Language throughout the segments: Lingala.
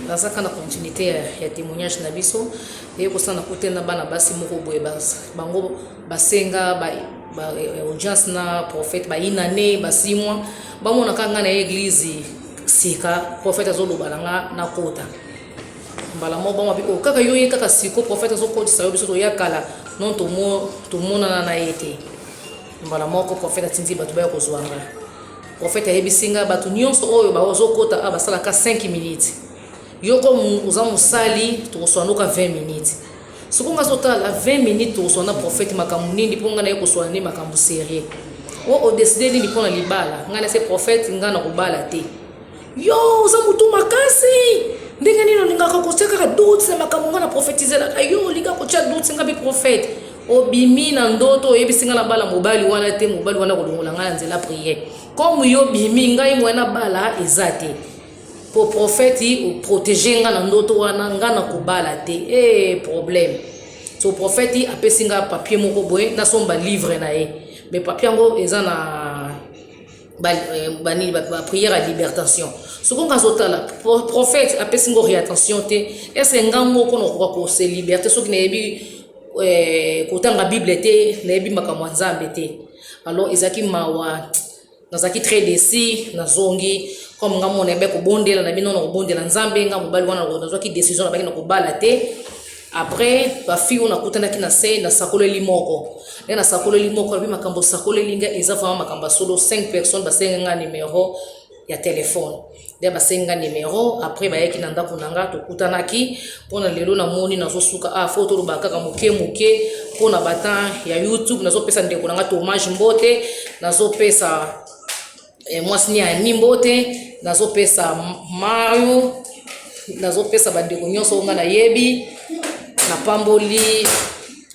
naza kaka na continuité ya, ya témoignage na biso eye kosala na kote na bana basi moko boye bango basenga ba, ba, eh, audience na prophète bayina ne basimwa bamonaka ngai na eglize sika prophète azoloba na nga nakota mbala moko bango babi oh, kaka yo ye kaka siko prophète azokotisa yo biso toya kala non tomonana na ye te mbala moko prophète atindi bato baya kozwa ngai Prophète ayebisi nga batu nionso oyo bazo kota a basala ka 5 minutes. Yo ko oza musali tokoswa noka 20 minutes. Soko nga zotala 20 minutes tokoswa na prophète makambo nini po nga na ye koswa ne makambo serieux. O o décider nini pona libala? Nga na se prophète nga na kobala te. Yo oza mutu makasi ndenge nini olingaka kotia kaka doute na makambo nga na profetizelaka yo olinga kotia doute nga bi prophète obimi na ndoto oyebisi nga na bala mobali wana te mobali wana kolongola nga na nzela prière comme yo bimi ngai moya na bala eza te po prophète oprotege nga na ndoto wana nga na kobala te e problème so prophète apesi nga papier moko boye nasomba livre na ye mais papier yango eza na ba, eh, ba nini ba, ba prière ya libertation soko nga azotala prophète apesi ngo réattention te ese nga moko nakoka kose liberté soki nayebi eh, kotanga bible te nayebi makambo ya nzambe te alors ezalaki mawa nazalaki très desi nazongi comme nga mona yabe kobondela na bino na kobondela nzambe nga mobali wana nazwaki décision nabaki na kobala te Après ba fille oyo nakutanaki na se nasakoleli moko nde nasakoleli moko alobi makambo osakoleli nga eza vraiment makambo ya solo 5 personnes basengi nga numero ya telefone nde basengi nga numero après bayaki na ndako na nga tokutanaki mpona lelo namoni nazosuka a ah, fo toloba kaka moke moke mpona batemp ya youtube nazopesa ndeko na nga tomage mbote nazopesa eh, mwasi nia ya mimbo te nazopesa mayo nazopesa bandeko nyonso oyo ngai nayebi napamboli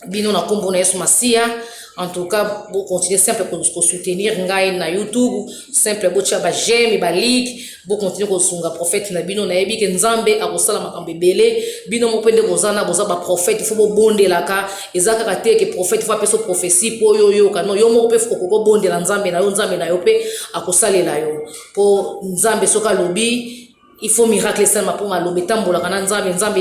bino na nkombo na yesu masiya en tout cas bocontinue simple kosoutenir ngai na youtube simple botya bajeme balike bocontinue kosunga prophète na bino nayebi ke nzambe akosala makambo ebele bino moko mpe nde boza na boza baprophète fo bobondelaka Eza kaka te ke prophète faut apesa prophetie po yo oyoka non yo moko pe faut koko bondela nzambe na yo nzambe na yo pe akosalela yo po nzambe soki alobi il faut miracle esalema po maloba etambolaka na nzambe nzambe